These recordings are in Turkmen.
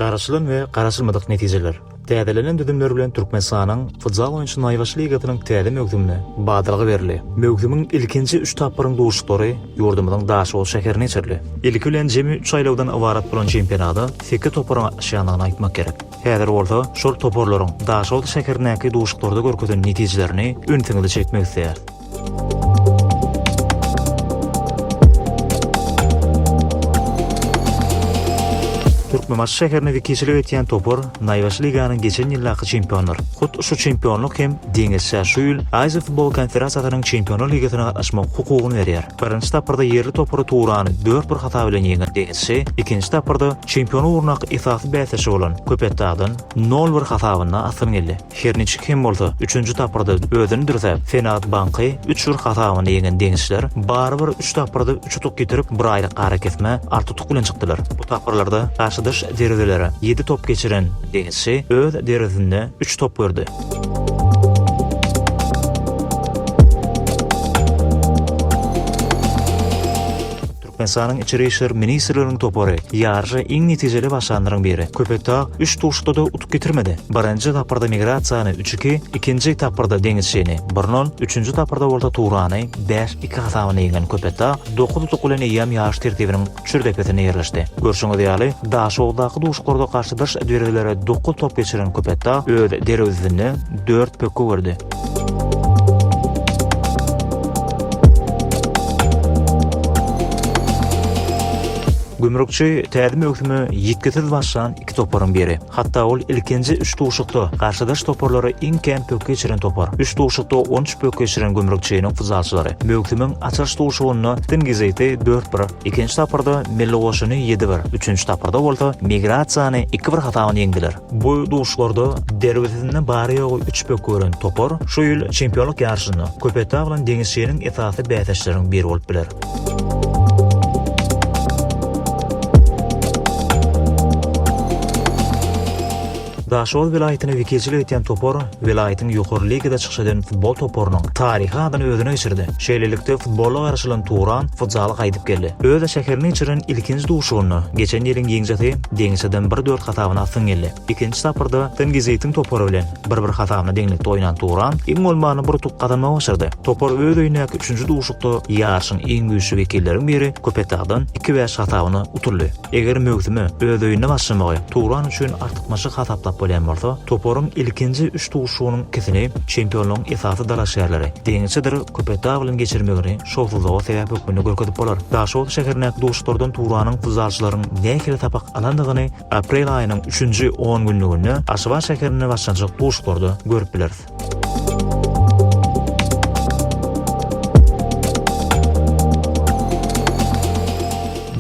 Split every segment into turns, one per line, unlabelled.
Garaşylan we garaşylmadyk netijeler. Täzelenen düzümler bilen Türkmenistanyň futzal oýunçy naýbaşy ligasynyň täze möwsümine badalga berildi. Möwsümiň ilkinji üç tapgyryň duşuşyklary ýurdumyzyň Daşoguz şäherinde geçirildi. Ilki bilen jemi üç aýlawdan ybarat bolan çempionada sekiz toparyň gatnaşýandygyny aýtmak gerek. Häzir bolsa şol toparlaryň Daşoguz şäherindäki duşuşyklarda görkezen netijelerini ünsüňizi çekmek isleýäris. Türkmenbaşy şäherine wekilçilik etýän topar naýbaşy liganyň geçen ýyldaky çempionudyr. Hut şu çempionlyk hem Deňizçä şu ýyl Aziýa futbol konferasiýasynyň Çempionlar ligasyna gatnaşmak hukugyny berýär. Birinji tapgyrda ýerli topary Turany dört bir hasap bilen ýeňen Deňizçi ikinji tapgyrda çempion ugrundaky esasy bäsdeşi bolan Köpetdagdan nol bir hasabynda asgyn geldi. Her niçik hem bolsa, üçünji tapgyrda özüni dürsäp, Senat banky üç bir hasabyny ýeňen deňizçiler barybir üç tapgyrda üç utuk ýitirip, bir aýlyk arakesmä alty utuk bilen çykdylar. Bu tapgyrlarda garşydaş derwezlere ýedi top geçiren deňizçi öz derwezesinde üç top gördi. Ensanyň içeri işler ministrliginiň topary ýaryşa iň netijeli başlanlaryň biri Köpetdag üç duşuşykda-da utuk getirmedi. Birinji tapgyrda Migrasiýany, üç, iki, ikinji tapgyrda Deňizçini, bir, nol, üçünji tapgyrda bolsa Turany, bäş, iki hasabynda ýeňen Köpetdag dokuz utuk bilen eýýäm ýaryş tertibiniň çür depesinde ýerleşdi. Görşüňiz ýaly, Daşoguzdaky duşuşyklarda garşydaş derwezlere dokuz top geçiren Köpetdag öz derwezesinde dört pökgi gördi. Gümrükçi täze möwsüme ýitgisiz başlan iki toparyň biri. Hatda ol ilkinji üç duşuşykda garşydaş toparlary iň kän pökgi geçiren topar. Üç duşuşykda on üç pökgi geçiren Gümrükçiniň futsalçylary möwsümiň açylyş duşuşygynda Tingiziti dört bir, ikinji tapgyrda Milligoşuny ýedi bir, üçünji tapgyrda bolsa Migrasiýany iki bir hasabyna ýeňdiler. Bu duşuşlarda derwezesinde bary-ýogy üç pökgi gören topar şu ýyl çempionlyk ýaryşynda Köpetdag bilen Deňiz şirin esasy bäsdeşleriň biri bolup biler. Daşoguz welaýatyny wekilçilik edýän topar Welaýatyň ýokary ligada çykyş eden futbol toparynyň taryhy adyny özüne geçirdi. Şeýlelikde, futbola garaşylan Turan futzaly gaýdyp geldi. Öz şäherinde geçirilen ilkinji duşuşygynda geçen ýylyň ýeňijisi Dengiçeden bir-dört hasabyna astyň geldi. Ikinji tapgyrda Tengiziýetiň topary bilen bir-bir hasabyna deňlikde oýnan Turan iň bolmanda bir utuk gazanmagy başardy. Topar öz öýündäki üçünji duşuşykda ýaryşyň iň güýçli wekilleriň biri Köpetdagdan iki-bäş hasabyna utuldy. Eger möwsüme öz öýünde başlamagy Turan üçin artykmaçlyk hasaplap bolýan bolsa, toparyň ilkinji üç duşuşygynyň ikisini çempionlaryň esasy dalaşgärleri deňiçidir Köpetdagyň geçirmegini şowsuzlyga sebäp hökmünde görkezip bolar. Daşoguz şäherindäki duşuşyklardan Turanyň futzalçylaryň nähili sapak alandygyny aprel aýynyň üçünji on günlüginde Aşgabat şäherinde başlanjak duşuşyklarda görüp bileris.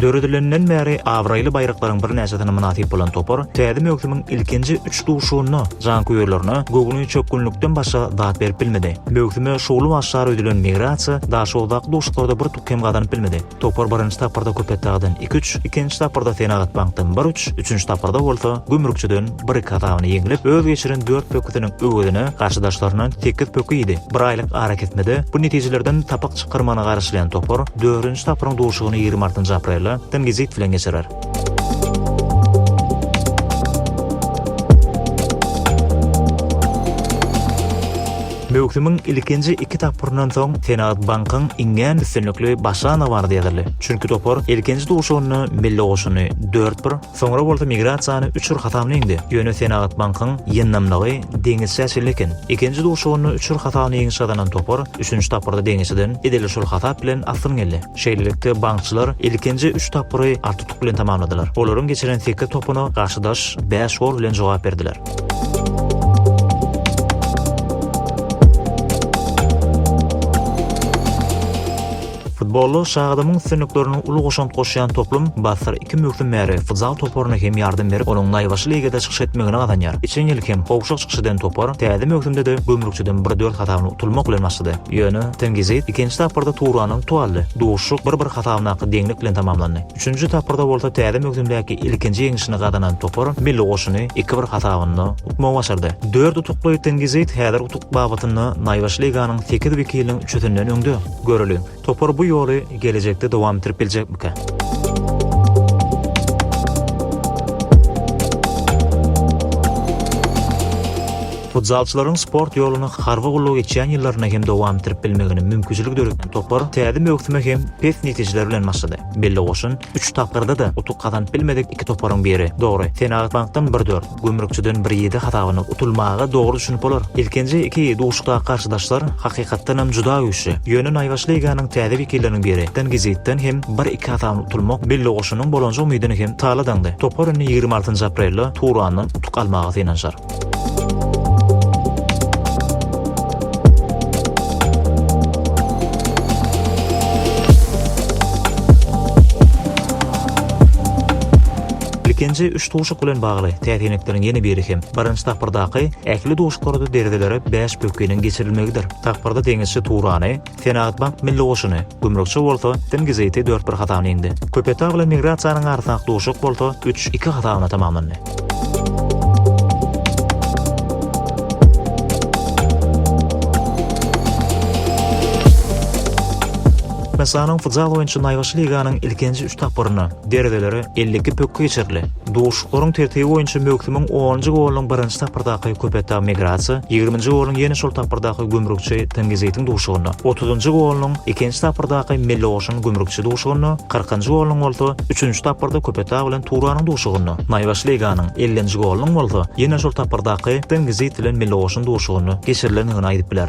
Döredilenden bäri abraýly baýraklaryň birnäçesine mynasyp bolan topar täze möwsümiň ilkinji üç duşuşygynda janköýerlerine göwni çökgünlikden başga zat berip bilmedi. Möwsüme şowly başlar öýdülen Migrasiýa Daşoguzdaky duşuşyklarda bir tuky hem gazanyp bilmedi. Topar birinji tapgyrda Köpetdagdan iki-üç, ikinji tapgyrda Senagatbankdan bir-üç, üçünji tapgyrda bolsa Gümrükçiden bir-iki hasabyny ýeňlip, öz geçiren dört pökgüsiniň öwezine garşydaşlaryndan sekiz pökgi iýdi. Bir aýlyk arakesmede bu netijelerden sapak çykarmagyna garaşylýan topar dördünji tapgyryň duşugyny ýigrimi altynjy aprelde Tyngyzit bilen geçirer. Möwsümiň ilkinji iki tapgyryndan soň Senagat bankyň iňňän üstünlikli başlana bardy ýazyldy. Çünki topar ilkinji duşuşygynda Milli goşuny dört bir, soňra bolsa Migrasiýany üç bir hasabyna ýeňdi. Ýöne Senagat bankyň ýyndamlygy deňeçjä çenli eken. Ikinji duşuşygynda üç bir hasabyna ýeňiş gazanan topar üçünji tapgyrda deňeçden edil şol hasap bilen astyn geldi. Şeýlelikde, bankçylar ilkinji üç tapgyry artutuk bilen tamamladylar. Olaryň geçiren sekiz topuna garşydaş bäş gol bilen jogap berdiler. Futbolda Şagadamyň üstünliklerine uly goşant goşýan toplum Basra iki möwsüm bäri futzal toparyna hem ýardam berip, onuň naýbaşy ligada çykyş etmegini gazanýar. Geçen ýyl hem gowşak çykyş eden topar täze möwsümde-de Gümrükçiden bir dört hasabyna utulmak bilen başlady. Ýöne TNGZ ikinji tapgyrda Turana utup aldy. Duşuşyk bir-bir hasabyndaky deňlik bilen tamamlandy. Üçünji tapgyrda bolsa täze möwsümdäki ilkinji ýeňişini gazanan topar milli goşuny iki bir hasabynda utmagy başardy. Dört utukly Tengizyt häzir utuk babatynda naýbaşy liganyň sekiz wekiliniň üçüsinden öňde. Göreliň, topar bu ýoly gelejekde dowam etdirip biljekmikä? Futzalçylaryň sport ýoluny harby gulluk etýän ýyllarynda hem dowam etdirip bilmegine mümkinçilik döreden topar täze möwsüme hem pes netijeler bilen başlady. Belli goşun üç tapgyrda-da utuk gazanyp bilmedik iki toparyň biri. Dogry, Senagatbankdan bir dört, Gümrükçiden bir ýedi hasabyny utulmaga dogry düşünip bolar. Ilkinji iki duşuşykdaky garşydaşlar hakykatdanam juda güýçli. Ýöne naýbaşy liganiň täze wekilleriniň biri Tengiziýetden hem bir iki hasabyny utulmak Belli goşunyň bolanja umydyny hem tala daňdy. Topar indi ýigrimi altynjy aprelde Turandan utuk almaga synanyşar. Ilkinji üç duşuk bilen bagly täsirlikleriň ýene biri hem birinji tapgyrdaky ähli duşuklarda deredelere bäş pökginiň geçirilmegidir. Tapgyrda deňizçi Turany, Senagatbank milli goşuny, gümrükçi bolsa Tengiziti dört bir hasabyna ýeňdi. Köpetdag bilen Migrasiýanyň arasyndaky duşuşyk bolsa üç iki hasabyna tamamlandy. Türkmenistanyň futzal boýunça naýbaşy liganyň ilkinji üç tapgyryna, Derezelere elli iki pökgi geçirildi. Duşuşyklaryň tertibi boýunça möwsümiň onunjy golunyň birinji tapgyrdaky Köpetdag Migrasiýa, ýigriminji golunyň ýene şol tapgyrdaky Gümrükçi Tengizeýtiň duşuşygynda, otuzynjy golunyň ikinji tapgyrdaky Mellioşyn Gümrükçi duşuşygynda, kyrkynjy golunyň bolsa üçünji tapgyrda Köpetdag bilen Turanyň duşuşygynda, Naýbaşy Leýganyň ellinji golunyň bolsa ýene şol tapgyrdaky Tengizeýt bilen Mellioşyn duşuşygynda geçirilendigini aýdyp biler.